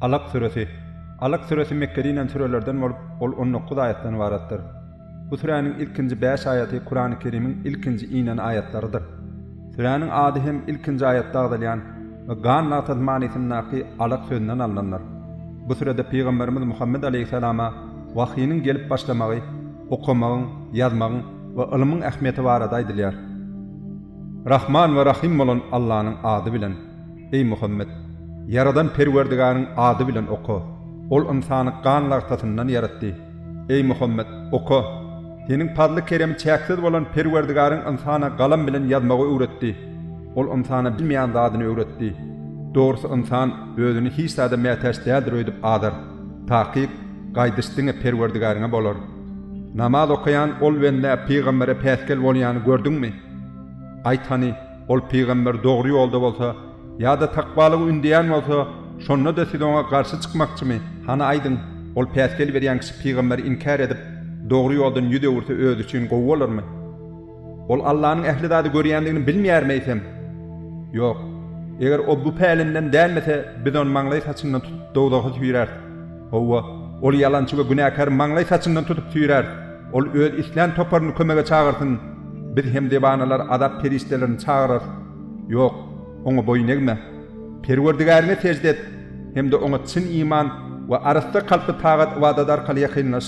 Alak süresi. Alak süresi Mekgede inen sürelerden bolup, ol on dokuz aýatdan ybaratdyr. Bu süräniň ilkinji bäş aýaty Kurany Kerimiň ilkinji inen aýatlarydyr. Süräniň ady hem ilkinji aýatda agzalýan we gan latat manysyndaky alak sözünden alnandyr. Bu sürede Pygamberimiz Muhammet aleýhissalama wahynyň gelip başlamagy, okamagyň, ýazmagyň we ylmyň ähmiýeti barada aýdylýar. Rahman we Rahym bolan Allanyň ady bilen, eý Muhammet, Ýaradan Perwerdigäriň ady bilen oka. Ol ynsany gan lagtasyndan ýaratdy. Eý Muhammet, oka! Seniň pazly-keremi çäksiz bolan Perwerdigäriň ynsana galam bilen ýazmagy öwretdi. Ol ynsana bilmeýän zadyny öwretdi. Dogrusy ynsan özüni hiç zada mätäç däldir öýdüp azar. Takyk, gaýdyş diňe Perwerdigäriňe bolar. Namaz okaýan ol bende pygambere päsgel bolýany gördüňmi? Aýt hany, ol pygamber dogry ýolda bolsa, ýa-da takwalygy ündeýän bolsa, şonda-da siz oňa garşy çykmakçymy? Hany aýdyň, ol päsgel berýän kişi pygamberi inkär edip, dogry ýoldan ýüz öwürse özi üçin gowy bolarmy? Ol Allanyň ähli zady görýändigini bilmeýärmi eýsem? Ýok. Eger o bu pälinden dänmese, biz ony maňlaý saçyndan tutup dowzaha süýräris. Hawa, ol ýalançy we günäkäri maňlaý saçyndan tutup süýräris. Ol öz islän toparyny kömege çagyrsyn. Biz hem dewanalary azap perişdelerini çagyrarys. Ýok, oňa boýun egme. Perwerdigäriňe sežde et hem-de oňa çyn iman we arassa kalply tagat-ybadat arkaly ýakynlaş.